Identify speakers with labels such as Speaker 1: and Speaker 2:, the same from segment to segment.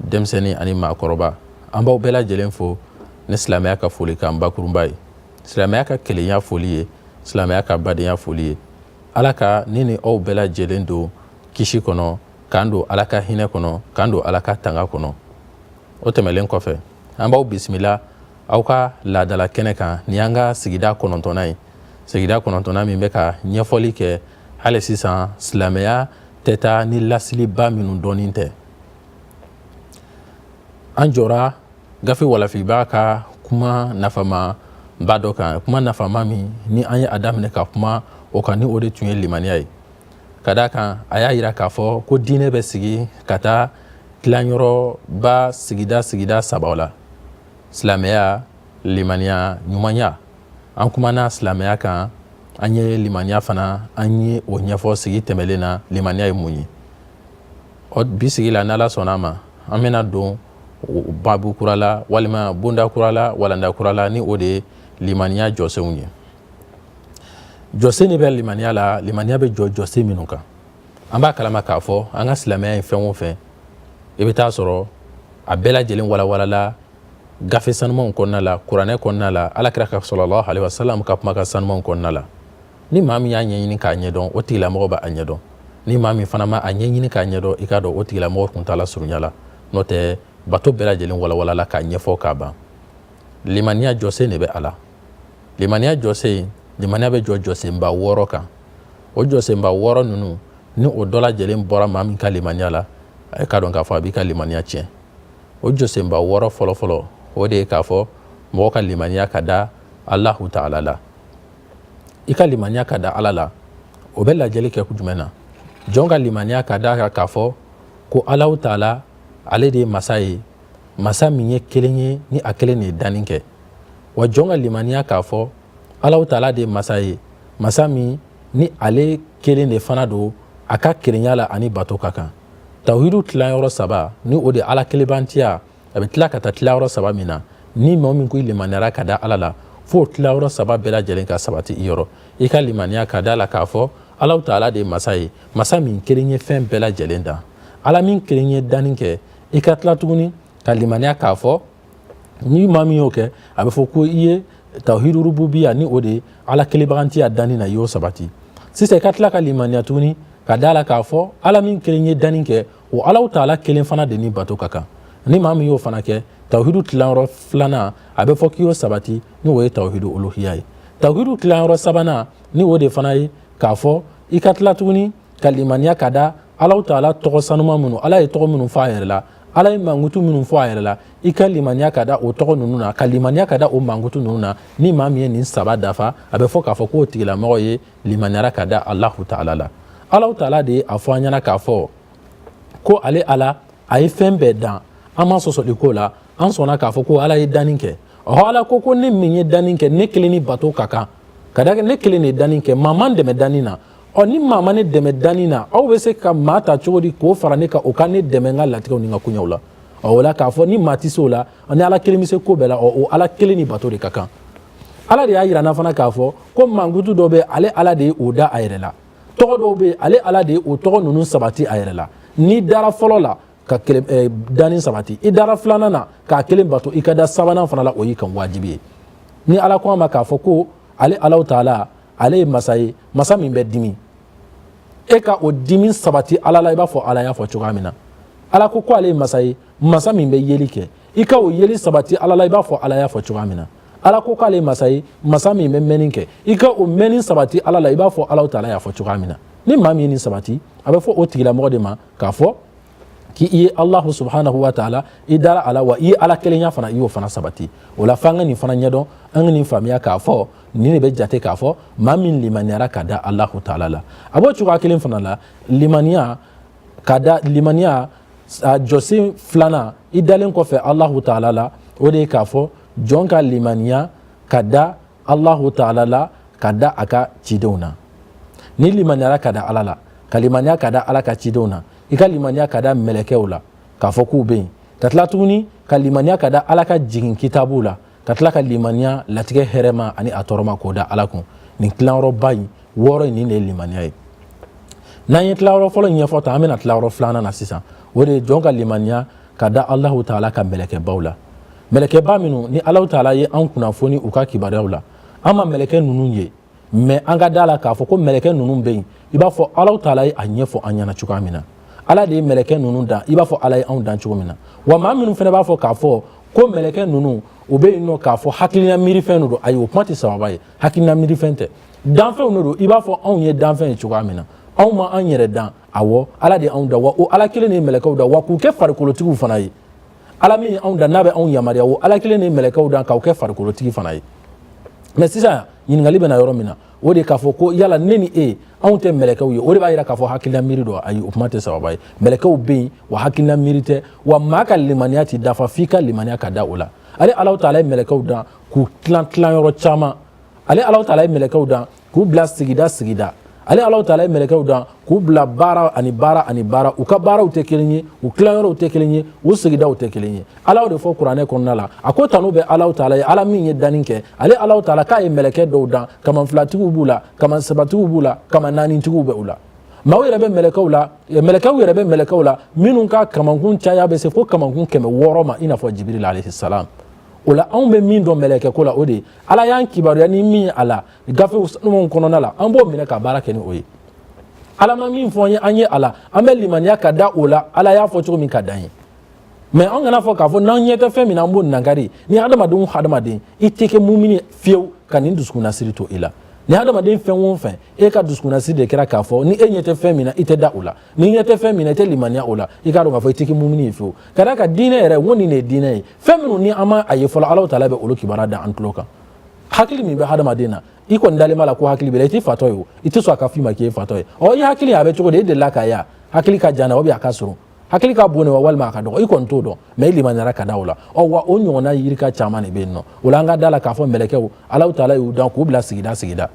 Speaker 1: denmisɛnnin ani maakɔrɔba an b'aw bɛɛ lajɛlen fo ni silamɛya ka foli kan bakurunba ye silamɛya ka kelenya foli ye silamɛya ka badenya foli ye ala ka ne ni aw bɛɛ lajɛlen don kisi kɔnɔ k'an don ala ka hinɛ kɔnɔ k'an don ala ka tanga kɔnɔ o tɛmɛlen kɔfɛ an b'aw bisimila aw ka laadala kɛnɛ kan nin y'an ka sigida kɔnɔntɔnnan ye sigida kɔnɔntɔnnan min bɛ ka ɲɛfɔli kɛ hali sisan silamɛya tɛ taa ni laseliba minnu dɔnni tɛ an jɔra gafe walafibaa ka kuma nafamaba dɔ kan kuma nafama min ni an ye a daminɛ ka kuma o kan ni o de tun ye limaniya ye ka d'a kan a y'a yira k'a fɔ ko diinɛ bɛ sigi ka taa tilanyɔrɔba sigida sigida saba la silamɛya limaniya ɲumanya an kumana silamɛya kan an ye limaniya fana an ye o ɲɛfɔ sigi tɛmɛlen na limaniya ye mun ye ɔ bi sigi la n'ala sɔnna a ma an bɛna don babu kura la walima bonda kura la walanda kura la ni o de ye limaniya jɔsenw ye jɔsen de bɛ limaniya la limaniya bɛ jɔ jɔsen minnu kan an b'a kalama k'a fɔ an ka silamɛya ye fɛn o fɛn i bɛ t'a sɔrɔ a bɛɛ lajɛlen walawalala gafe sanumanw kɔnɔna la kuranɛ kɔnɔna la alakira ka salalahu aleyi wasalam ka kumakan sanumanw kɔnɔna la ni maa min y'a ɲɛɲini k'a ɲɛdɔn o tigilamɔgɔ b'a ɲɛdɔn ni maa min fana ma a ɲɛɲini k'a ɲɛdɔn i k'a dɔn o tigilamɔgɔ tun t'a la surunya la n'o tɛ bato bɛɛ lajɛlen walawalala k'a ɲɛfɔ k'a ban limaniya jɔsen de bɛ a la limaniya jɔsen limaniya bɛ jɔ jɔsenba wɔɔrɔ kan o jɔsenba wɔɔrɔ ninnu ni o dɔ la kelen bɔra maa min ka limaniya la a ye k'a dɔn k'a fɔ a b'i ka limaniya tiɲɛ o jɔsenba wɔɔrɔ fɔlɔfɔlɔ o de ye k'a fɔ mɔgɔ ka limaniya ka da alahu taala la i ka limaniya ka da ala la o bɛ lajɛli kɛ jumɛn na jɔn ka limaniya ka da k'a fɔ ko alahu taala ale de ye masa ye masa min ye kelen ye ni a kelen de ye danni kɛ wa jɔn ka limaniya k'a fɔ alahu taala de ye masa ye masa min ni ale kelen de fana don a ka kelenya la a ni bato ka kan tawhidu tilayɔrɔ saba ni o de ala kelenbantiya a bɛ tila ka taa tilayɔrɔ saba min na ni mɔgɔ min ko i limaniyara ka da ala la fo tilayɔrɔ saba bɛɛ lajɛlen ka sabati i yɔrɔ i ka limaniya ka d'a la k'a fɔ alahu taala de ye masa ye masa min kelen ye fɛn bɛɛ lajɛlen dan ala min kelen ye danni kɛ i ka tila tuguni ka limaniya k'a fɔ ni maa min y'o kɛ a bɛ fɔ ko i ye tawhidu rububiya ni o de ala kelenbagantiya danni na i y'o sabati sisan i ka tila ka limaniya tuguni ka d'a la k'a fɔ ala min kelen ye danni kɛ o alahu taala kelen fana de ni bato ka kan ni maa min y'o fana kɛ tawhidu tilayɔrɔ filanan a bɛ fɔ k'i y'o sabati ni o ye tawhidu uluhiya ye tawhidu tilayɔrɔ sabanan ni o de fana ye k'a fɔ i ka tila tuguni ka limaniya ka da alahu taala tɔgɔ sanuman minnu ala ye tɔgɔ minnu fɔ a yɛrɛ la ala ye mankutu minnu fɔ a yɛrɛ la i ka limaniya ka da o tɔgɔ ninnu na ka limaniya ka da o mankutu ninnu na ni maa min ye nin saba dafa a bɛ fɔ k'a fɔ k'o tigilamɔgɔ ye limaniyara ka da alahu taala la alahu taala de ye a fɔ an ɲɛna k'a fɔ ko ale ala a ye fɛn bɛɛ dan an ma sɔsɔli k'o la an sɔnna k'a fɔ ko ala ye danni kɛ ɔhɔ ala ko ko ne min ye danni kɛ ne kelen ni bato ka kan ka da ne kelen de ye danni kɛ maa ma n dɛmɛ danni na ɔ ni maa ma ne dɛmɛ danni na aw bɛ se ka maa ta cogo di k'o fara ne kan o ka ne dɛmɛ n ka latigɛw ni n ka koɲɛw la ɔ o la k'a fɔ ni maa tɛ se o la ni ala kelen bɛ se ko bɛɛ la ɔ o ala kelen ni bato de ka kan ala de y'a yira an na fana k'a fɔ ko mankutu dɔ bɛ ale ala de ye o da a yɛrɛ la tɔgɔ dɔw bɛ yen ale ala de ye o tɔgɔ ninnu sabati a yɛrɛ la n'i dara fɔlɔ la ka kelen eh, danni sabati i dara filanan na k'a kelen bato i ka da sabanan fana la o y'i kan wajibi ye ni ala ko an ma k'a fɔ ko ale alahu taala ale ye masa ye masa min bɛ dimi e ka o dimi sabati ala la i b'a fɔ ala y'a fɔ cogoya min na ala ko ko ale ye masa ye masa min bɛ yeli kɛ i ka o yeli sabati ala la i b'a fɔ ala y'a fɔ cogoya min na ala ko k'ale ye masa ye masa min bɛ mɛnni kɛ i ka o mɛnni sabati ala la i b'a fɔ alahu taala y'a fɔ cogoya min na ni maa min ye nin sabati a bɛ fɔ o tigilamɔgɔ de ma k'a fɔ k'i i ye alahu subhanahu wa taala i dara a la wa i ye ala kelenya fana i y'o fana sabati o la f'an ka nin fana ɲɛdɔn an ka nin faamuya k'a fɔ nin de bɛ jate k'a fɔ maa min limaniyara ka da alahu taala la a b'o cogoya kelen fana la limaniya ka da limaniya a jɔsen filanan i dalen kɔfɛ alahu taala la o de ye k'a fɔ jɔn ka limaniya ka da alahu taala la ka da a ka cidenw na n'i limaniyara ka da ala la ka limaniya ka da ala ka cidenw na i ka limaniya ka da mɛlɛkɛw la k'a fɔ k'u bɛ yen ka tila tuguni ka limaniya ka da ala ka jigin kitabuw la ka tila ka limaniya latigɛ hɛrɛma ani a tɔɔrɔma k'o da ala kun nin tilayɔrɔba in wɔɔrɔ in nin de ye limaniya ye n'an ye tilayɔrɔ fɔlɔ in ɲɛfɔ tan an bɛ na tilayɔrɔ filanan na sisan o de ye jɔn ka limaniya ka da Alahu taala ka mɛlɛkɛbaw la, mɛlɛkɛba minnu ni Alahu taala ye an kunnafoni u ka kibaruyaw la, an ma mɛlɛkɛ ninnu ye, mais an ka d'a la k'a fɔ ko mɛlɛkɛ ninnu bɛ yen i b'a fɔ Alahu taala ye a ɲɛfɔ an ɲɛna cogoya min na, Ala de ye mɛlɛkɛ ninnu dan i b'a fɔ Ala ye anw dan cogo min na, wa maa minnu fana b'a fɔ k'a fɔ ko mɛlɛkɛ ninnu u bɛ yen nɔ k'a fɔ hakilina miirifɛn de don, ayi o kuma tɛ sawaba ye, hakilina miirifɛn tɛ, danfɛnw de don i b'a fɔ anw ye danfɛn ye cogoya min na, anw ma an yɛrɛ dan. awɔ ala de ye anw dan wa o ala kelen de ye mɛlɛkɛw dan wa k'u kɛ farikolotigiw fana ye ala min ye anw dan n'a bɛ anw yamaruya o ala kelen de ye mɛlɛkɛw dan ka u kɛ farikolotigi fana ye mais sisan ɲininkali bɛ na yɔrɔ min na o de k'a fɔ ko yala ne ni e anw tɛ mɛlɛkɛw ye o de b'a yira k'a fɔ hakilila miiri don ayi o kuma tɛ sawaba ye mɛlɛkɛw bɛ yen wa hakilila miiri tɛ wa maa ka limaniya tɛ dafa f'i ka limaniya ka da o la ale alahu taala ye mɛlɛkɛw dan k'u tilan tilan yɔrɔ caman ale alahu taala ye mɛlɛkɛw dan k'u bila sigida sigida ale ala taala ye mɛlɛkɛw dan k'u bila baara ani baara ani baara u ka baaraw tɛ kelen ye u tilayɔrɔw tɛ kelen ye u sigidaw tɛ kelen ye ala de fɔ kuranɛ kɔnɔna la a ko tanu bɛ ala taala ye ala min ye danni kɛ ale ala taala k'a ye mɛlɛkɛ dɔw dan kaman filatigiw b'u la kaman sabatigiw b'u la kaman naanitigiw bɛ u la maaw yɛrɛ bɛ mɛlɛkɛw la mɛlɛkɛw yɛrɛ bɛ mɛlɛkɛw la minnu ka kamankun caya bɛ se fo kamankun kɛmɛ wɔɔrɔ ma i n'a fɔ jibirila alaihi salam o la anw bɛ min dɔn mɛlɛkɛ ko la o de ye ala y'an kibaruya ni min ye a la gafew sanumanw kɔnɔna la an b'o minɛ ka baara kɛ ni o ye ala ma min fɔ an ye an ye a la an bɛ limaniya ka da o la ala y'a fɔ cogo min ka dan yen mais an kana fɔ k'a fɔ n'an ɲɛ tɛ fɛn min na an b'o nankari ni hadamaden o hadamaden i tɛ kɛ mumini fiyewu ka nin dusukunnasiri to i la ni hadamaden fɛn o fɛn e ka dusukunnasiri de kɛra k'a fɔ ni e ɲɛ tɛ fɛn min na i tɛ da o la n'i ɲɛ tɛ fɛn min na i tɛ limaniya o la i k'a dɔn k'a fɔ i tɛ kɛ mumini ye fiyewu ka d'a kan diinɛ yɛrɛ n ko nin de ye diinɛ ye fɛn minnu ni an ma a ye fɔlɔ alahu taala bɛ olu kibaruya da an tulo kan hakili min bɛ hadamaden na i kɔni dalen b'a la ko hakili b'i la i tɛ fatɔ ye o i tɛ sɔn a ka f'i ma k'i ye fatɔ ye ɔ i hakili a bɛ cogo di e delila k'a ye a hakili ka jan na ou bien a ka surun hakili ka bon de wa walima a ka dɔgɔ i kɔni t'o dɔn mais i limaniyara ka da o la ɔ wa o ɲɔgɔnna yirika caman de bɛ yen nɔ o la an ka da la k'a fɔ mɛlɛkɛw alahu taala y'u dan k'u bila sigida sigida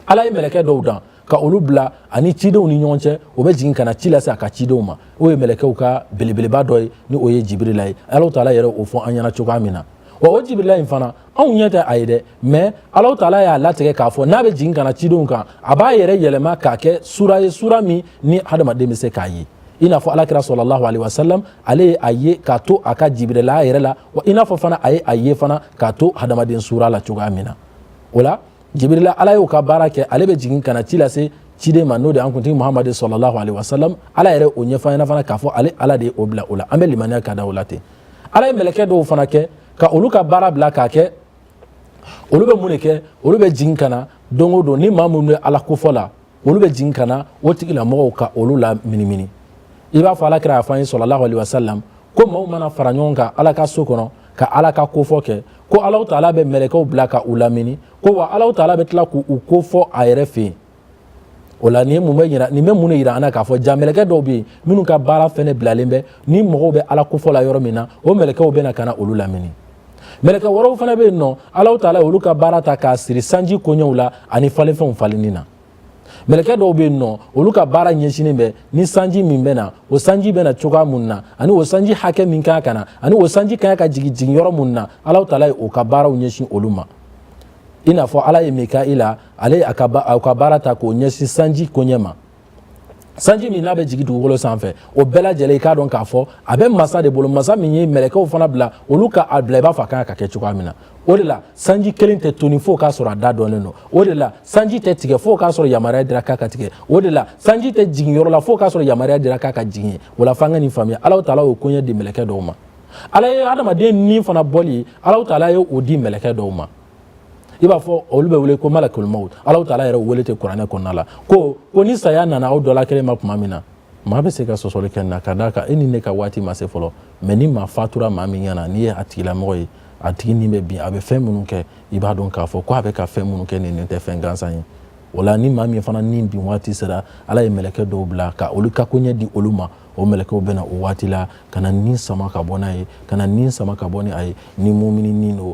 Speaker 1: ala ye mɛlɛkɛ dɔw dan ka olu bila a ni cidenw ni ɲɔgɔn cɛ o bɛ jigin ka na ci lase a ka cidenw ma o ye mɛlɛkɛw ka belebeleba dɔ ye ni o ye jibirila ye alahu taala yɛrɛ o fɔ an ɲɛna cogoya min na wa o jibirila in fana anw ɲɛ tɛ a ye dɛ mais alahu taala y'a latigɛ k'a fɔ n'a bɛ jigin ka na cidenw kan a b'a yɛrɛ yɛlɛma k'a kɛ sura ye sura min ni hadamaden bɛ se k'a ye i n'a fɔ ala kira sallallahu alaihi wasallam ale ye a ye k'a to a ka jibirila yɛrɛ la wa i n'a fɔ fana a ye a ye fana k'a to hadamaden sura la cogoya min na o la jibirila ala y'o ka baara kɛ ale bɛ jigin ka na ci lase ciden ma n'o de an kuntigi muhamadi sallallahu alaihi wasalam ala yɛrɛ o ɲɛfɔ an ɲɛna fana k'a fɔ ale ala de ye o bila o la an bɛ limaniya ka da o la ten ala ye mɛlɛkɛ dɔw fana kɛ ka olu ka baara bila k'a kɛ olu bɛ mun de kɛ olu bɛ jigin ka na don o don ni maa minnu bɛ ala kofɔ la olu bɛ jigin ka na o tigilamɔgɔw ka olu laminimini i b'a fɔ ala kira y'a fɔ an ye sallallahu alaihi wasalam ko maaw mana fara ɲɔgɔn kan ala ka so kɔnɔ ka ala ka kofɔ kɛ ko ala taala bɛ mɛlɛkɛw bila ka u lamini ko wa ala taala bɛ tila k'u kofɔ a yɛrɛ fɛ yen o la nin mun bɛ yira nin bɛ mun de yira an na k'a fɔ ja mɛlɛkɛ dɔw bɛ yen minnu ka baara fɛnɛ bilalen bɛ ni mɔgɔw bɛ ala kofɔ la yɔrɔ min na o mɛlɛkɛw bɛ na ka na olu lamini mɛlɛkɛ wɛrɛw fana bɛ yen nɔ alahu taala olu ka baara ta k'a siri sanji koɲɛw la ani falenfɛnw falenni na mɛlɛkɛ dɔw bɛ yen nɔ olu ka baara ɲɛsinnen bɛ ni sanji min bɛ na o sanji bɛ na cogoya mun na ani o sanji hakɛ min kan ka na ani o sanji kan ka jigin jigin yɔrɔ mun na alahu taala ye o ka baaraw ɲɛsin olu ma i n'a fɔ ala ye mikaila ale ye a ka baara ta k'o ɲɛsin sanji koɲɛ ma sanji min n'a bɛ jigin dugukolo sanfɛ o bɛɛ lajɛlen i k'a dɔn k'a fɔ a bɛ masa de bolo masa min ye mɛlɛkɛw fana bila olu ka a bila i b'a fɔ a kan ka kɛ cogoya min na o de la sanji kelen tɛ toni fo k'a sɔrɔ a da dɔnnen don o de la sanji tɛ tigɛ fo k'a sɔrɔ yamaruya dira k'a ka tigɛ o de la sanji tɛ jigin yɔrɔ la fo k'a sɔrɔ yamaruya dira k'a ka jigin o la f'an ka nin faamuya Alahu taala y'o koɲɛ di mɛlɛkɛ dɔw ma ala ye adamaden ni fana bɔli Alahu taala ye o di mɛlɛkɛ dɔw ma i b'a fɔ olu bɛ wele ko malakul maut Alahu taala yɛrɛ wele ten kuranɛ kɔnɔna la ko ko ni saya nana aw dɔ la kelen ma tuma min na maa bɛ se ka sɔsɔli kɛ na ka d'a kan e ni ne ka waati ma se fɔlɔ mais ni maa fatura maa min ɲɛna n'i ye a tigilamɔgɔ ye a tigi ni bɛ bin a bɛ fɛn minnu kɛ i b'a dɔn k'a fɔ ko a bɛ ka fɛn minnu kɛ nin nin tɛ fɛn gansan ye o la ni maa min fana ni bin waati sera ala ye mɛlɛkɛ dɔw bila ka olu ka koɲɛ di olu ma o mɛlɛkɛw bɛna o waati la ka na ni sama ka bɔ n'a ye ka na ni sama ka bɔ ni a ye ni mumini ni don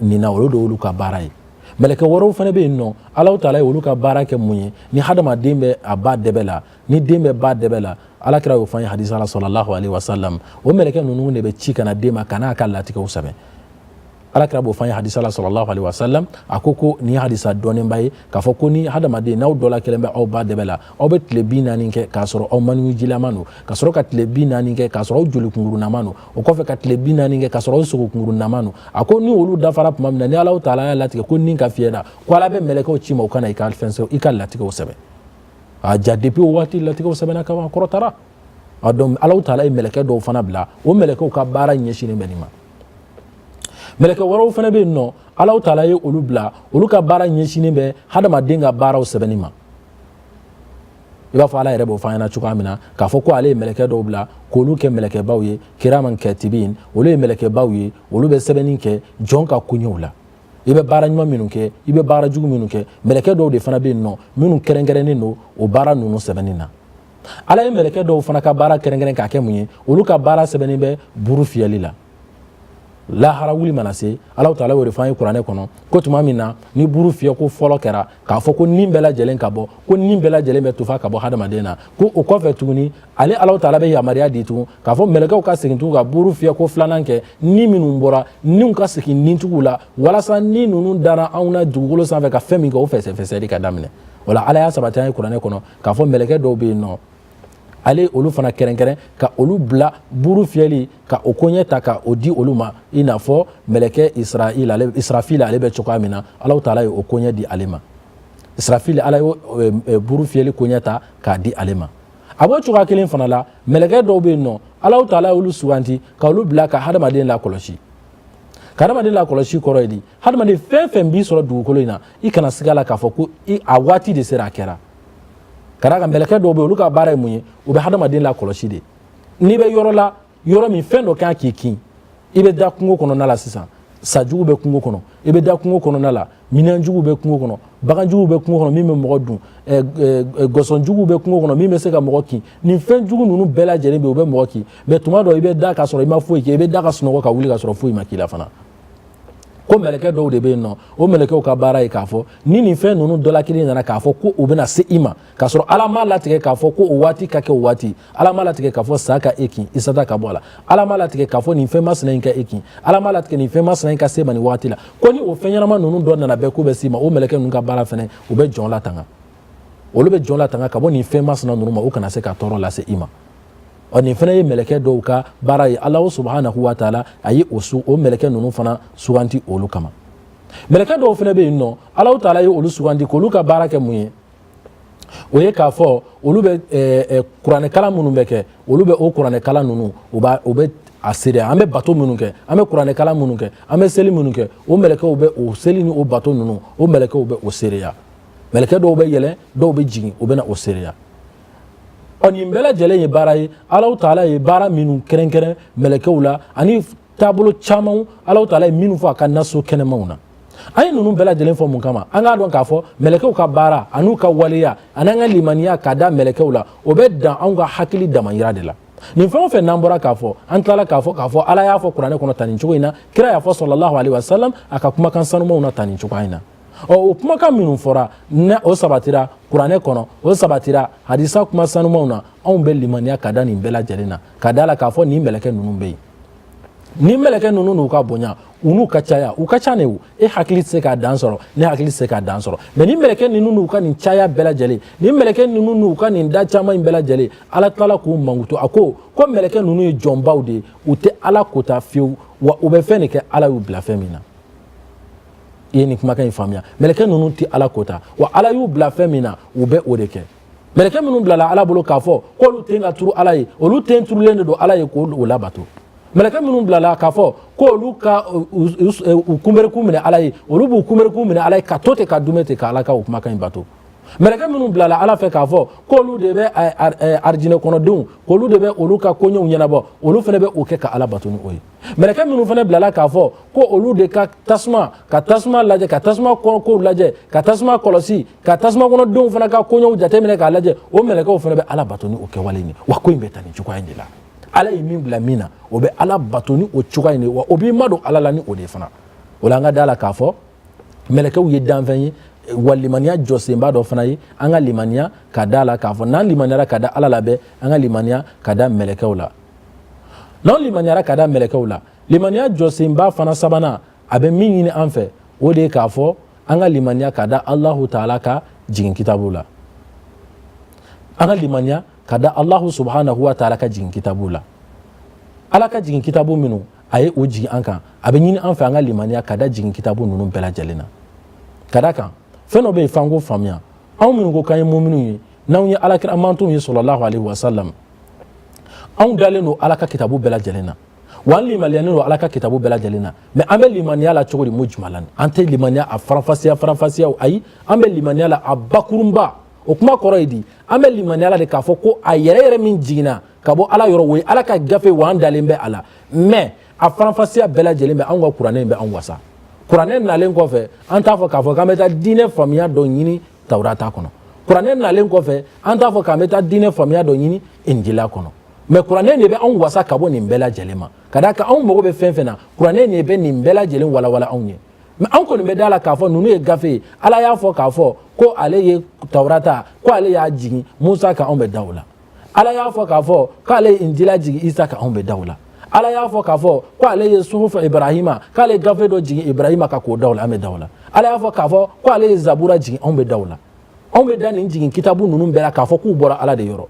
Speaker 1: nin na olu de y'olu ka baara ye mɛlɛkɛ wɛrɛw fana bɛ yen nɔ ala taala ye olu ka baara kɛ mun ye ni hadamaden bɛ a ba dɛbɛ la ni den bɛ ba dɛbɛ la ala kira y'o fɔ an ye hadisa la sallallahu alayhi wa sallam o mɛlɛkɛ ninnu de bɛ ci ka na den ma ka na a ka latigɛw sɛbɛn ala kira b'o fɔ an ye hadisa la sallallahu alayhi wa sallam a ko ko nin ye hadisa dɔnnenba ye k'a fɔ ko ni hadamaden n'aw dɔ la kelen bɛ aw ba dɛbɛ la aw bɛ tile bi naani kɛ k'a sɔrɔ aw maniwujilama don ka sɔrɔ ka tile bi naani kɛ k'a sɔrɔ aw jolikunkurunama don o kɔfɛ ka tile bi naani kɛ k'a sɔrɔ aw sogokunkurunama don a ko ni olu dafara tuma min na ni Alahu taala y'a latigɛ ko ni ka fiyɛ na ko ala bɛ mɛlɛkɛw ci i ma u ka na i ka fɛn sɛbɛn i ka latigɛw sɛbɛn a ja depuis o waati latigɛw sɛbɛnna ka ban kɔrɔtara a donc Alahu taala ye mɛlɛkɛ dɔw fana bila o mɛlɛkɛw ka baara ɲɛsinnen bɛ nin ma mɛlɛkɛ wɛrɛw fana bɛ yen nɔ Alahu taala ye olu bila olu ka baara ɲɛsinnen bɛ hadamaden ka baaraw sɛbɛnni ma i b'a fɔ ala yɛrɛ b'o fɔ an ɲɛna cogoya min na k'a fɔ ko ale ye mɛlɛkɛ dɔw bila k'olu kɛ mɛlɛkɛbaw ye kiraman katibin olu ye mɛlɛkɛbaw ye olu bɛ sɛbɛnni kɛ jɔn ka koɲɛw la i bɛ baara ɲuman minnu kɛ i bɛ baara jugu minnu kɛ mɛlɛkɛ dɔw de fana bɛ yen nɔ minnu kɛrɛnkɛrɛnnen don o baara ninnu sɛbɛnni na ala ye mɛlɛkɛ dɔw fana ka baara kɛrɛnkɛrɛn k'a kɛ mun ye olu ka baara sɛbɛnnen bɛ buru fiyɛli la lahara wuli mana se Alahu taala y'o de fɔ an ye kuranɛ kɔnɔ ko tuma min na ni buru fiyɛ ko fɔlɔ kɛra k'a fɔ ko ni bɛɛ lajɛlen ka bɔ ko ni bɛɛ lajɛlen bɛ tufa ka bɔ hadamaden na ko o kɔfɛ tuguni ale Alahu taala bɛ yamaruya di tugun k'a fɔ mɛlɛkɛw ka segin tugun ka buru fiyɛ ko filanan kɛ ni minnu bɔra niw ka segin nitigiw la walasa ni ninnu dara anw na dugukolo sanfɛ ka fɛn min kɛ o fɛsɛfɛsɛli ka daminɛ o la ala y'a sabati an ye kuranɛ kɔnɔ k'a fɔ mɛlɛkɛ dɔw bɛ yen nɔ ale olu fana kɛrɛnkɛrɛn ka olu bila buru fiyɛli ka o koɲɛ ta ka o di olu ma i n'a fɔ mɛlɛkɛ israil ale israfil ale bɛ cogoya min na Alahu taala ye o koɲɛ di ale ma israfil ala ye e, e, buru fiyɛli koɲɛ ta k'a di ale ma a b'o cogoya kelen fana la mɛlɛkɛ dɔw bɛ yen nɔ Alahu taala ye olu suganti ka olu bila ka hadamaden lakɔlɔsi ka hadamaden lakɔlɔsi kɔrɔ ye di hadamaden fɛn fɛn b'i sɔrɔ dugukolo in na i kana siga a la k'a fɔ ko a waati de sera a kɛra ka d'a kan mɛlɛkɛ dɔw bɛ olu ka baara ye mun ye u bɛ hadamaden lakɔlɔsi de n'i bɛ yɔrɔ la yɔrɔ min fɛn dɔ kan k'i kin i bɛ da kungo kɔnɔna la sisan sajugu bɛ kungo kɔnɔ i bɛ da kungo kɔnɔna la minɛnjugu bɛ kungo kɔnɔ baganjugu bɛ kungo kɔnɔ min bɛ mɔgɔ dun gɔsɔnjugu bɛ kungo kɔnɔ min bɛ se ka mɔgɔ kin nin fɛn jugu ninnu bɛɛ lajɛlen bɛ u bɛ mɔgɔ kin mɛ tuma dɔ i bɛ da ka sɔrɔ i ma foyi kɛ i bɛ da ka sunɔgɔ ka wuli ka sɔrɔ foyi ma k'i la fana ko mɛlɛkɛ dɔw de bɛ yen nɔ o mɛlɛkɛw ka baara ye k'a fɔ ni nin fɛn ninnu dɔ la kelen nana k'a fɔ ko u bɛna se i ma k'a sɔrɔ ala m'a latigɛ k'a fɔ ko o waati ka kɛ o waati ala m'a latigɛ k'a fɔ sa ka e kin i sata ka bɔ a la ala m'a latigɛ k'a fɔ nin fɛn masina in ka e kin ala m'a latigɛ nin fɛn masina in ka se e ma nin waati la ko ni o fɛn ɲɛnama ninnu dɔ nana bɛɛ k'u bɛ s'i ma o mɛlɛkɛ ninnu ka baara fɛnɛ u bɛ jɔn latanga olu bɛ jɔn latanga ka bɔ nin fɛn masina ninnu ma u kana se ka tɔɔrɔ lase i ma ɔ nin fana ye mɛlɛkɛ dɔw ka baara ye ala subahanahu wa taala a ye o su o mɛlɛkɛ ninnu fana suganti olu kama mɛlɛkɛ dɔw fana bɛ yen nɔ ala taala ye olu suganti k'olu ka baara kɛ mun ye o ye k'a fɔ olu bɛ eh, eh, kuranɛkalan minnu bɛ kɛ olu bɛ o kuranɛkalan ninnu u b'a u bɛ a seereya an bɛ bato minnu kɛ an bɛ kuranɛkalan minnu kɛ an bɛ seli minnu kɛ o mɛlɛkɛw bɛ o seli ni o bato ninnu o mɛlɛkɛw bɛ o seereya mɛlɛkɛ dɔw bɛ yɛlɛn dɔw bɛ jigin u bɛ na o seereya ɔ nin bɛɛ lajɛlen ye baara ye alahu taala ye baara minnu kɛrɛnkɛrɛn mɛlɛkɛw la ani taabolo camanw alahu taala ye minnu fɔ a ka naso kɛnɛmaw na an ye ninnu bɛɛ lajɛlen fɔ mun kama an k'a dɔn k'a fɔ mɛlɛkɛw ka baara an'u ka waleya an'an ka limaniya ka da mɛlɛkɛw la o bɛ dan anw ka hakili damayira de la nin fɛn o fɛn n'an bɔra k'a fɔ an tilala k'a fɔ k'a fɔ ala y'a fɔ kuranɛ kɔnɔ tan nin cogo in na kira y'a fɔ salalahu alaihi wasalam a ka kumakan sanumaw na tan nin cogoya in na ɔ o kumakan minnu fɔra ne o sabatira kuranɛ kɔnɔ o sabatira hadisa kuma sanumaw na anw bɛ limaniya ka da nin bɛɛ lajɛlen na ka da a la k'a fɔ nin mɛlɛkɛ ninnu bɛ yen nin mɛlɛkɛ ninnu n'u ka bonya u n'u ka caya u ka ca ne o e hakili tɛ se k'a dan sɔrɔ ne hakili tɛ se k'a dan sɔrɔ mɛ nin mɛlɛkɛ ninnu n'u ka nin caya bɛɛ lajɛlen nin mɛlɛkɛ ninnu n'u ka nin da caman in bɛɛ lajɛlen ala tilala k'u mankutu a ko ko mɛlɛkɛ ninnu ye jɔnbaw de ye u tɛ ala kota fiyewu wa u bɛ fɛn de kɛ ala y'u bila fɛn min na i ye nin kumakan in faamuya mɛlɛkɛ ninnu tɛ ala kota wa ala y'u bila fɛn min na u bɛ o de kɛ mɛlɛkɛ minnu bilala ala bolo k'a fɔ k'olu ten ka turu ala ye olu ten turulen de don ala ye k'o labato mɛlɛkɛ minnu bilala k'a fɔ k'olu ka u kunbɛrikun minɛ ala ye olu b'u kunbɛrikun minɛ ala ye ka to ten ka duumɛ ten ka ala ka o kumakan in bato mɛlɛkɛ minnu bilala ala fɛ k'a fɔ k'olu de bɛ arijinɛ kɔnɔdenw k'olu de bɛ olu ka koɲɛw ɲɛnabɔ olu fana bɛ o kɛ ka ala bato ni o ye mɛlɛkɛ minnu fana bilala k'a fɔ ko olu de ka tasuma ka tasuma lajɛ ka tasuma kow lajɛ ka tasuma kɔlɔsi ka tasuma kɔnɔdenw fana ka koɲɛw jateminɛ k'a lajɛ o mɛlɛkɛw fana bɛ ala bato ni o kɛwale in ye wa ko in bɛ taa nin cogoya in de la ala ye min bila min na o bɛ ala bato ni o cogoya in de wa o b'i madon ala la ni o de fana o la an ka da la k'a fɔ mɛlɛkɛw ye danfɛn ye wa limaniya jɔsenba dɔ fana ye an ka limaniya ka da la k'a fɔ n'an limaniyara ka da ala la bɛɛ an ka limaniya ka da mɛlɛkɛw la n'an limaniyara ka da mɛlɛkɛw la limaniya jɔsenba fana sabanan a bɛ min ɲini an fɛ o de ye k'a fɔ an ka limaniya ka da alahu taala ka jigin kitabu la an ka limaniya ka da alahu subhanahu wa taala ka jigin kitabu la ala ka jigin kitabu minnu a ye o jigin an kan a bɛ ɲini an fɛ an ka limaniya ka da jigin kitabu ninnu bɛɛ lajɛlen na ka d'a kan fɛn dɔ bɛ yen f'an k'o faamuya anw minnu ko k'an ye muminunw ye n'anw ye alakira mantonw ye sɔlɔlahu alaihi wasalam anw dalen don ala ka kitabu bɛɛ lajɛlen na wa an limaniyalen don ala ka kitabu bɛɛ lajɛlen na mɛ an bɛ limaniya la cogo di mujumalan an tɛ limaniya a faranfasiya faranfasiyaw ayi an bɛ limaniya la a bakurunba o kuma kɔrɔ ye di an bɛ limaniya la de k'a fɔ ko a yɛrɛ yɛrɛ min jiginna ka bɔ ala yɔrɔ o ye ala ka gafe wa an dalen bɛ a la mɛ a faranfasiya bɛɛ lajɛlen bɛ anw ka kuranɛ in bɛ anw wasa kuranɛ nalen kɔfɛ an t'a fɔ k'a fɔ k'an bɛ taa diinɛ faamuya dɔ ɲini tawurata kɔnɔ kuranɛ nalen kɔfɛ an t'a fɔ k'an bɛ taa diinɛ faamuya dɔ ɲini injila kɔnɔ mɛ kuranɛ de bɛ anw wasa ka bɔ nin bɛɛ lajɛlen ma ka d'a kan anw mago bɛ fɛn fɛn na kuranɛ de bɛ nin bɛɛ lajɛlen walawala anw ye mɛ anw kɔni bɛ da la k'a fɔ ninnu ye gafe ye ala y'a fɔ k'a fɔ ko ale ye tawurata ko ale y'a jigin musa kan anw bɛ da o la ala y'a fɔ k'a fɔ k'ale ye injila jigin isa kan anw bɛ da o la ala y'a fɔ k'a fɔ ko ale ye suhufu ibrahima k'ale ye gafe dɔ jigin ibrahima kan ko da o la an bɛ da o la ala y'a fɔ k'a fɔ ko ale ye zabura jigin anw bɛ da o la anw bɛ da nin jigin kitabu ninnu bɛɛ la k'a fɔ k'u bɔra ala de yɔrɔ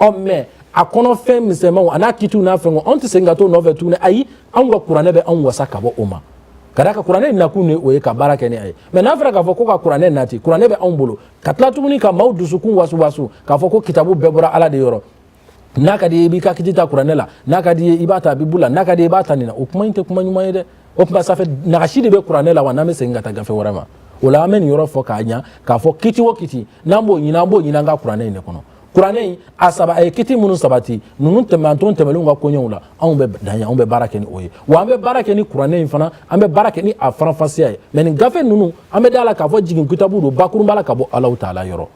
Speaker 1: ɔ mɛ a kɔnɔ fɛn misɛnmanw a n'a kitiw n'a fɛnw anw tɛ segin ka t'o nɔfɛ tuguni ayi anw ka kuranɛ bɛ anw wasa ka bɔ o ma ka d'a kan kuranɛ nakun de o ye ka baara kɛ ni a ye mɛ n'a fɔra k'a fɔ ko ka kuranɛ nati kuranɛ bɛ anw bolo ka tila tuguni ka maaw dusukun wasuwasu k'a fɔ ko kitabu bɛɛ bɔra ala de yɔrɔ n'a ka d'i ye i b'i ka kiti ta kuranɛ la n'a ka d'i ye i b'a ta bibu la n'a ka d'i ye i b'a ta nin na o kuma in tɛ kuma ɲuman ye dɛ o tuma sa fɛ nagasi de bɛ kuranɛ la wa n'an bɛ segin ka taa gafe wɛrɛ ma o la an bɛ nin yɔrɔ fɔ k'a ɲa k'a fɔ kiti o kiti n'an b'o ɲini an b'o ɲini an ka kuranɛ in de kɔnɔ kuranɛ in a saba a ye kiti minnu sabati ninnu tɛmɛ manton tɛmɛnlenw ka koɲɛw la anw bɛ dan yen anw bɛ baara kɛ ni o ye wa an bɛ baara kɛ ni kuranɛ in fana an bɛ baara kɛ ni a faranfasiya ye mɛ nin gafe ninnu an bɛ da la k'a fɔ jigin kitabu don bakurunba la ka bɔ alahu taala yɔrɔ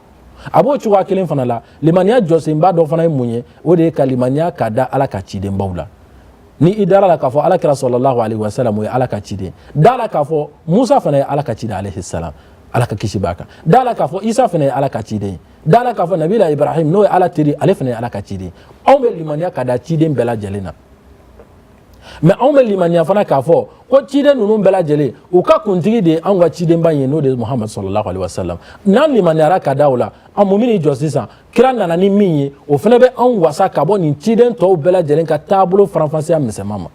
Speaker 1: a b'o cogoya kelen fana la limaniya jɔsenba dɔ fana ye mun ye o de ye ka limaniya ka da ala ka cidenbaw la ni i dara la k'a fɔ alakira sɔlɔlahu alaihi wasalam o ye ala ka ciden da la k'a fɔ musa fana ye ala ka ciden alaihi salam ala ka kisi b'a kan da la k'a fɔ isa fana ye ala ka ciden ye da la k'a fɔ nabila ibrahim n'o ye ala teri ale fana ye ala ka ciden anw bɛ limaniya ka da ciden bɛɛ lajɛlen na mɛ anw bɛ limaniya fana k'a fɔ ko ciden ninnu bɛɛ lajɛlen u ka kuntigi de ye anw ka cidenba ye n'o de ye muhamadu sɔlɔlahu alaihi wasallam n'an limaniyara ka da o la an mun bɛn'i jɔ sisan kira nana ni min ye o fana bɛ anw wasa ka bɔ nin ciden tɔw bɛɛ lajɛlen ka taabolo faranfasiya misɛnman ma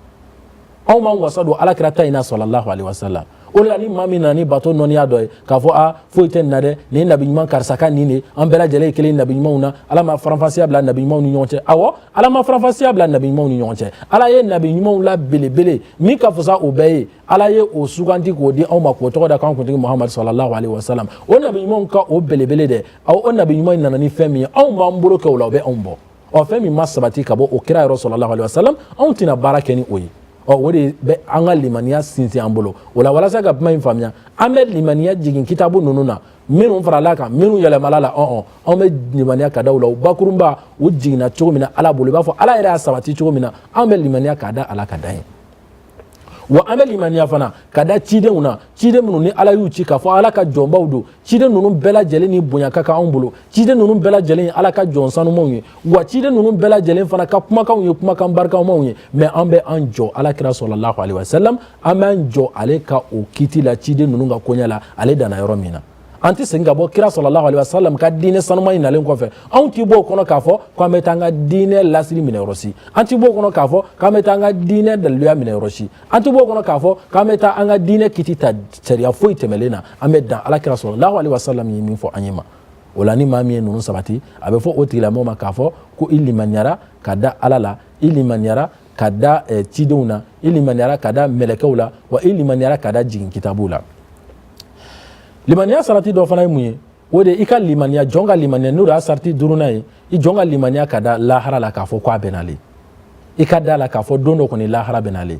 Speaker 1: anw b'an wasa don alakira ta in na sɔlɔlahu alaihi wasalam o de la ni maa min nana ni bato nɔniya dɔ ye k'a fɔ a foyi tɛ nin na dɛ nin ye nabi ɲuman karisa ka nin de an bɛɛ lajɛlen ye kelen ye nabi ɲumanw na ala ma faranfasiya bila nabi ɲumanw ni ɲɔgɔn cɛ awɔ ala ma faranfasiya bila nabi ɲumanw ni ɲɔgɔn cɛ ala ye nabi ɲumanw la belebele min ka fisa o bɛɛ ye ala ye o suganti k'o di anw ma k'o tɔgɔ da k'an kuntigi muhamadu sɔlɔlahu alaihi wasalam o nabi ɲumanw ka o belebele dɛ aw o nabi ɲuman in nana ni fɛn min ye anw b'an bolo kɛ o la o bɛ anw bɔ ɔ fɛn min ma sabati ka bɔ o kira yɔrɔ sɔlɔlahu alaihi wasalam anw tɛna baara kɛ ni o ye ɔ o de bɛ an ka limaniya sinsin an bolo o la walasa ka kuma in faamuya an bɛ limaniya jigin kitabu ninnu na minnu farala kan minnu yɛlɛmala la ɔn-ɔn anw bɛ limaniya ka da u la u bakurunba u jiginna cogo min na ala bolo i b'a fɔ ala yɛrɛ y'a sabati cogo min na anw bɛ limaniya ka da a la ka dan yen wa an bɛ limaniya fana ka da cidenw na ciden minnu ni ala y'u ci k'a fɔ ala ka jɔnbaw don ciden ninnu bɛɛ lajɛlen ni bonya ka kan anw bolo ciden ninnu bɛɛ lajɛlen ye ala ka jɔn sanumanw ye wa ciden ninnu bɛɛ lajɛlen fana ka kumakanw ye kumakan barikamaw ye mɛ an bɛ an jɔ ala kira sɔlɔlahu alaihi wasalam an b'an jɔ ale ka o kiti la ciden ninnu ka koɲɛ la ale danna yɔrɔ min na an tɛ segin ka bɔ kira sɔlɔlahu alaihi wasallam ka diinɛ sanuman in nalen kɔfɛ anw t'i bɔ o kɔnɔ k'a fɔ k'an bɛ taa an ka diinɛ lasiri minɛ yɔrɔ si an t'i bɔ o kɔnɔ k'a fɔ k'an bɛ taa an ka diinɛ daliluya minɛ yɔrɔ si an t'i bɔ o kɔnɔ k'a fɔ k'an bɛ taa an ka diinɛ kiti ta sariya foyi tɛmɛlen na an bɛ dan ala kira sɔlɔlahu alaihi wasallam ye min fɔ an ye ma o la ni maa min ye ninnu sabati a bɛ fɔ o tigilamɔgɔ ma k'a fɔ ko i limaniyara ka da ala la i limaniyara ka da eh, cidenw na i limaniyara ka da mɛlɛkɛw la wa i limaniyara ka da jigin kitabuw la limaniya sarati dɔ fana ye mun ye o de i ka limaniya jɔn ka limaniya n'o de y'a sarati duurunan ye i jɔn ka limaniya ka da lahara la k'a fɔ ko a bɛ na le i ka da la k'a fɔ don dɔ kɔni lahara bɛ na le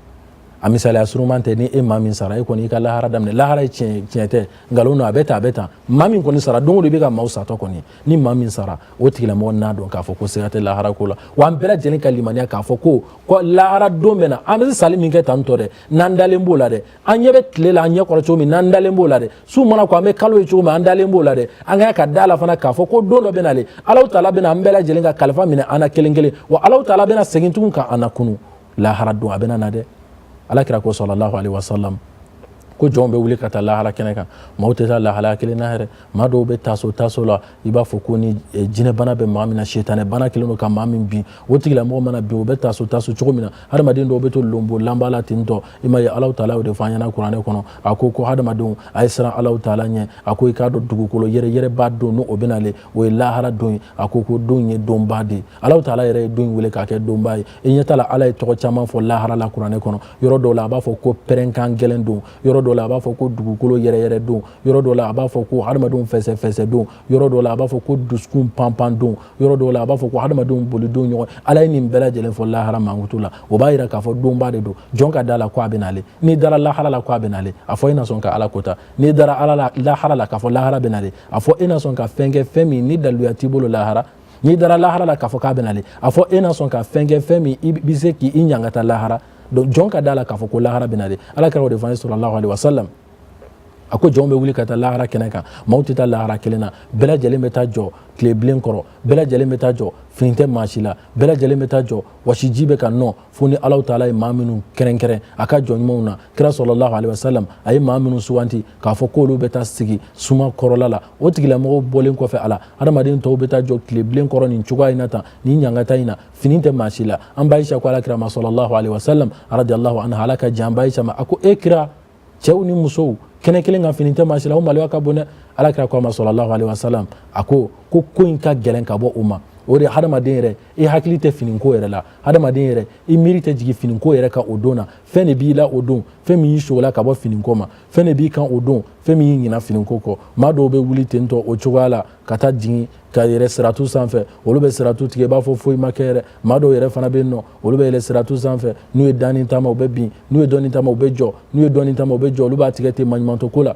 Speaker 1: a misaliya surunman tɛ nin ye maa min sara e kɔni i ka lahara daminɛ lahara ye tiɲɛ tiɲɛ tɛ nkalon don a bɛ tan a bɛ tan maa min kɔni sara don o don i bɛ ka maaw satɔ kɔni ni maa min sara o tigilamɔgɔ n'a dɔn k'a fɔ ko siga tɛ lahara ko la wa an bɛɛ lajɛlen ka limaniya k'a fɔ ko ko lahara don bɛ na an bɛ sali min kɛ tan tɔ dɛ n'an dalen b'o la dɛ an ɲɛ bɛ tile la an ɲɛ kɔrɔ cogo min n'an dalen b'o la dɛ su mana ko an bɛ kalo ye cogo min an dalen b'o la dɛ an ka kan ka da la fana k'a fɔ ko don dɔ bɛ na le alahu taala bɛna an bɛɛ lajɛlen ka kalifa minɛ an na kelen kelen wa alahu taala bɛna segin tugun ka an lakunun lahara don a bɛna na dɛ ala kira ko sɔlɔlahu alaihi wasalam ko jɔnw bɛ wuli ka taa lahara kɛnɛ kan maaw tɛ taa lahalaya kelen na yɛrɛ maa dɔw bɛ taso taso la i b'a fɔ ko ni eh, jinɛbana bɛ maa min na setanɛ bana kelen don ka maa min bin o tigilamɔgɔ mana bin o bɛ taso taso cogo min na hadamaden dɔw bɛ to lonbo lanba la ten tɔ i ma ye alahu taala y'o de fɔ an ɲɛna kuranɛ kɔnɔ a ko ko hadamadenw a ye siran alahu taala ɲɛ a ko i k'a dɔn dugukolo yɛrɛyɛrɛba don n'o bɛ nalen o ye lahara don ye a ko ko don ye donba de ye alahu taala yɛrɛ ye don wele k'a kɛ donba ye i ɲɛ t'a la ala ye tɔgɔ caman fɔ lahara la kuranɛ kɔnɔ yɔrɔ dɔw la a b'a fɔ ko pɛrɛnkan gɛlɛn don yɔrɔ dɔ la a b'a fɔ ko dugukolo yɛrɛyɛrɛ don yɔrɔ dɔ la a b'a fɔ ko hadamadenw fɛsɛfɛsɛ don yɔrɔ dɔ la a b'a fɔ ko dusukun panpan don yɔrɔ dɔ la a b'a fɔ ko hadamadenw boli don ɲɔgɔn ala ye nin bɛɛ lajɛlen fɔ lahara mankutu la o b'a yira k'a fɔ donba de don jɔn ka da la ko a bɛ nalen n'i dara lahara la ko a bɛ nalen a fɔ e na sɔn ka ala kota n'i dara ala la lahara la k'a fɔ lahara bɛ nalen a fɔ e na sɔn ka fɛn kɛ fɛn min ni daluya t'i bolo lahara n'i dara lahara la k'a fɔ k'a bɛ nalen a fɔ e na sɔn ka fɛn kɛ fɛn min i bɛ se k'i ɲangata lahara donc jɔn ka da la k'a fɔ ko lahara bɛna de ala kira y'o de fɔ an ye sɔlɔlahu alaihi wasallam a ko jɔnw bɛ wuli ka taa lahara kɛnɛ kan maaw tɛ taa lahara kelen na bɛɛ lajɛlen bɛ taa jɔ tile bilen kɔrɔ bɛɛ lajɛlen bɛ taa jɔ fini tɛ maa si la bɛɛ lajɛlen bɛ taa jɔ wasiji bɛ ka nɔ fo ni alahu taala ye maa minnu kɛrɛnkɛrɛn a ka jɔn ɲumanw na kira sɔlɔlahu alaihi wasallam a ye maa minnu suganti k'a fɔ k'olu bɛ taa sigi suma kɔrɔla la o tigilamɔgɔw bɔlen kɔfɛ a la adamaden tɔw bɛ taa jɔ tile bilen kɔrɔ nin cogoya in na tan nin ɲangata in na fini tɛ maa si la an ba ayisa ko ala kira ma sɔlɔlahu alayhi wa sallam radiyallahu anha ala ka jɛn ba ayisa ma a ko e kira cɛw ni musow kɛnɛ kelen kan fini tɛ maa si la o maloya ka bon dɛ ala kira ko a ma sɔlɔlahu alayhi wa sallam a ko ko ko in ka gɛlɛn ka bɔ o ma o de hadamaden yɛrɛ i hakili tɛ finiko yɛrɛ la hadamaden yɛrɛ i miiri tɛ jigin finiko yɛrɛ kan o don na fɛn de b'i la o don fɛn min y'i sogola ka bɔ finiko ma fɛn de b'i kan o don fɛn min y'i ɲina finiko kɔ maa dɔw bɛ wuli tentɔ o cogoya la ka taa jigin ka yɛlɛ siratu sanfɛ olu bɛ siratu tigɛ i b'a fɔ foyi ma kɛ yɛrɛ maa dɔw yɛrɛ fana bɛ yen nɔ olu bɛ yɛlɛ siratu sanfɛ n'u ye dɔɔni taama u bɛ bin n'u ye dɔɔni taama u bɛ jɔ n'u ye dɔɔni taama u bɛ jɔ olu b'a tigɛ ten maɲumantɔ ko la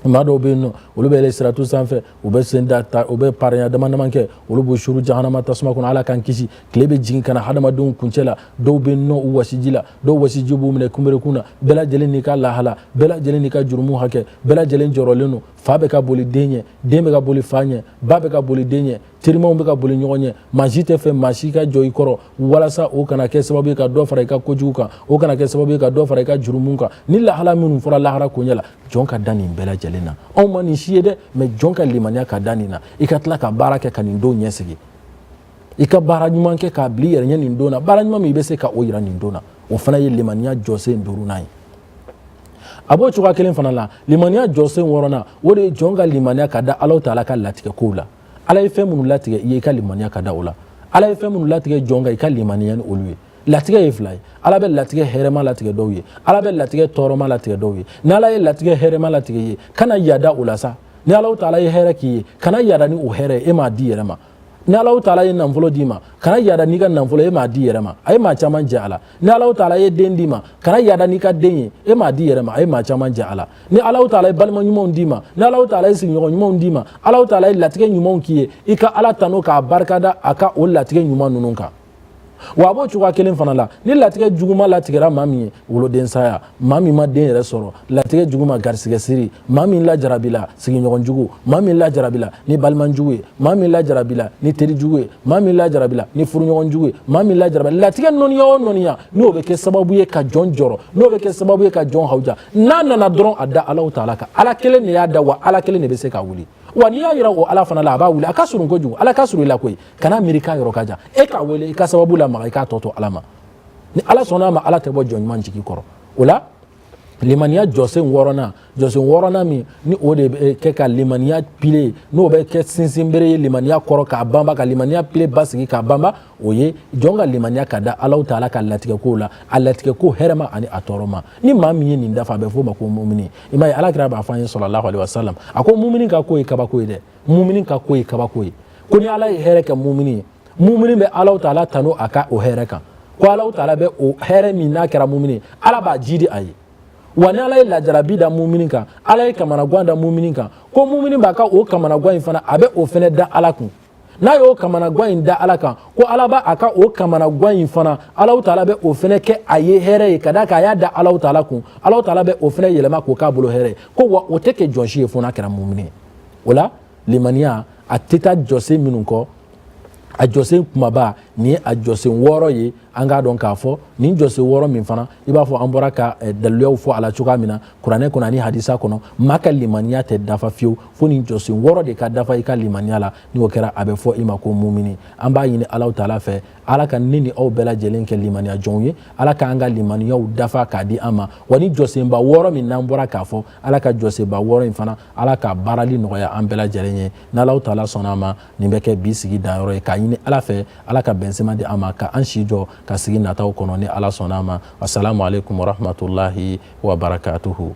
Speaker 1: maa dɔw bɛ yen nɔ olu bɛ yɛlɛ siratu sanfɛ u bɛ sen da ta u bɛ parenya dama dama kɛ olu b'u suuru jahanama tasuma kɔnɔ ala k'an kisi tile bɛ jigin ka na hadamadenw kuncɛ la dɔw bɛ nɔn u wasiji la dɔw wasiji b'u minɛ kunberekun na bɛɛ lajɛlen n'i ka lahala bɛɛ lajɛlen n'i ka jurumu hakɛ bɛɛ lajɛlen jɔrɔlen don fa bɛ ka boli den ɲɛ den bɛ ka boli fa ɲɛ ba bɛ ka boli den ɲɛ terimaw bɛ ka boli ɲɔgɔn ɲɛ maa si tɛ fɛ maa si ka jɔ i kɔrɔ walasa o kana kɛ sababu ye ka dɔ fara i ka kojugu kan o kana kɛ sababu ye ka dɔ fara i ka jurumu kan nin lahala minnu fɔra lahara koɲɛ la jɔn ka da nin bɛɛ lajɛlen na anw ma nin si ye dɛ mais jɔn ka limaniya ka da nin na i ka tila ka baara kɛ ka nin don ɲɛsigi i ka baara ɲuman kɛ k'a bila i yɛrɛ ɲɛ nin don na baara ɲuman min i bɛ se ka o yira nin don na o fana ye limaniya jɔsen duurunan ye a b'o cogoya kelen fana la limaniya jɔsen wɔɔrɔnan o de ye jɔn ka limaniya ka da alaw taala ka latigɛ kow la ala ye fɛn minnu latigɛ i ye i ka limaniya ka da o la ala ye fɛn minnu latigɛ jɔn kan i ka limaniya ni olu ye latigɛ ye fila ye ala bɛ latigɛ hɛrɛma latigɛ dɔw ye ala bɛ latigɛ tɔɔrɔma latigɛ dɔw ye ni ala ye latigɛ hɛrɛma latigɛ i ye kana yada o la sa ni alaw taala ye hɛrɛ k'i ye kana yada ni o hɛrɛ ye e m'a d'i yɛrɛ ma ni alaw taala ye nafolo d'i ma kana yada n'i ka nafolo e m'a d'i yɛrɛ ma a ye maa caman jɛ a la ni alaw taala ye den d'i ma kana yada n'i ka den ye e m'a d'i yɛrɛ ma a ye maa caman jɛ a la ni alaw taala ye balima ɲumanw d'i ma ni alaw taala ye sigiɲɔgɔn ɲumanw d'i ma alaw taala ye latigɛ ɲumanw k'i ye i ka ala tano k'a barikada a ka o latigɛ ɲuman ninnu kan wa a b'o cogoya kelen fana la ni latigɛ juguma latigɛra maa min ye woloden saya maa min ma den yɛrɛ sɔrɔ latigɛ juguma garisigɛ siri maa min lajarabila sigiɲɔgɔn jugu maa min lajarabila ni balima jugu ye maa min lajarabila ni teri jugu ye maa min lajarabila ni furuɲɔgɔn jugu ye maa min lajarabila latigɛ nɔniya o nɔniya n'o bɛ kɛ sababu ye ka jɔn jɔrɔ n'o bɛ kɛ sababu ye ka jɔn hawuja n'a nana dɔrɔn a da alaw taala kan ala kelen de y'a da wa ala kelen de bɛ se k'a wuli wa n'i y'a yira o ala fana la a b'a wuli a ka surun kojugu ala ka surun i la koyi kana miiri k'a yɔrɔ ka jan e k'a wele i ka sababu lamaga i k'a tɔ to ala ma ni ala sɔnn'a ma ala tɛ bɔ jɔn ɲuman jigi kɔrɔ o la limaniya jɔsen wɔɔrɔnan jɔsen wɔɔrɔnan min ni o de bɛ kɛ ka limaniya pile n'o bɛ kɛ sinsinbere ye limaniya kɔrɔ k'a banba ka limaniya pile basigi k'a banba o ye jɔn ka limaniya ka da alaw taala ka latigɛkow la a latigɛko hɛrɛma ani a tɔɔrɔma ni maa min ye nin dafa a bɛ f'o ma ko mumini i m'a ye alakira b'a fɔ an ye salalahu alehi wasalam a ko mumini ka ko ye kabako ye dɛ mumini ka ko ye kabako ye ko ni ala ye hɛrɛ kɛ mumini ye mumini bɛ alaw taala tanu a ka o hɛrɛ kan ko alaw taala bɛ o hɛrɛ min n'a kɛra mumini ye ala b'a jiidi a ye wa ni ala ye lajarabi da mumini kan ala ye kamanagan da mumini kan ko mumini b'a ka o kamanagan in fana a bɛ o fana da ala kun n'a y'o kamanagan in da ala kan ko ala b'a a ka o kamanagan in fana alaw taala bɛ o fana kɛ a ye hɛrɛ ye ka d'a kan a y'a da alaw taala kun alaw taala bɛ o fana yɛlɛma k'o k'a bolo hɛrɛ ye ko wa o tɛ kɛ jɔn si ye fo n'a kɛra mumini ye o la limaniya a tɛ taa jɔsen minnu kɔ a jɔsen kumaba nin ye a jɔsen wɔɔrɔ ye an k'a dɔn k'a fɔ nin jɔsen wɔɔrɔ min fana i b'a fɔ an bɔra ka eh, daliluyaw fɔ a la cogoya min na kuranɛ kɔnɔ ani hadisa kɔnɔ maa ka limaniya tɛ dafa fiyewu fo nin jɔsen wɔɔrɔ de ka dafa i ka limaniya la ni o kɛra a bɛ fɔ i ma ko mumini an b'a ɲini alaw taala fɛ ala ka ne ni aw bɛɛ lajɛlen kɛ limaniya jɔnw ye ala k'an ka limaniyaw dafa k'a di an ma wa nin jɔsenba wɔɔrɔ min n'an bɔra k'a fɔ ala ka jɔsenba wɔɔrɔ in fana ala ka baarali nɔgɔya an bɛɛ lajɛlen ye n'alahu taala sɔnna a ma nin bɛ kɛ bi sigi danyɔrɔ ye k'a ɲini ala fɛ ala ka bɛnsema di an ma ka an si jɔ ka sigi nataw kɔnɔ ni ala sɔnna a ma asalamu aleykum warahmatulahi wabarakatuhu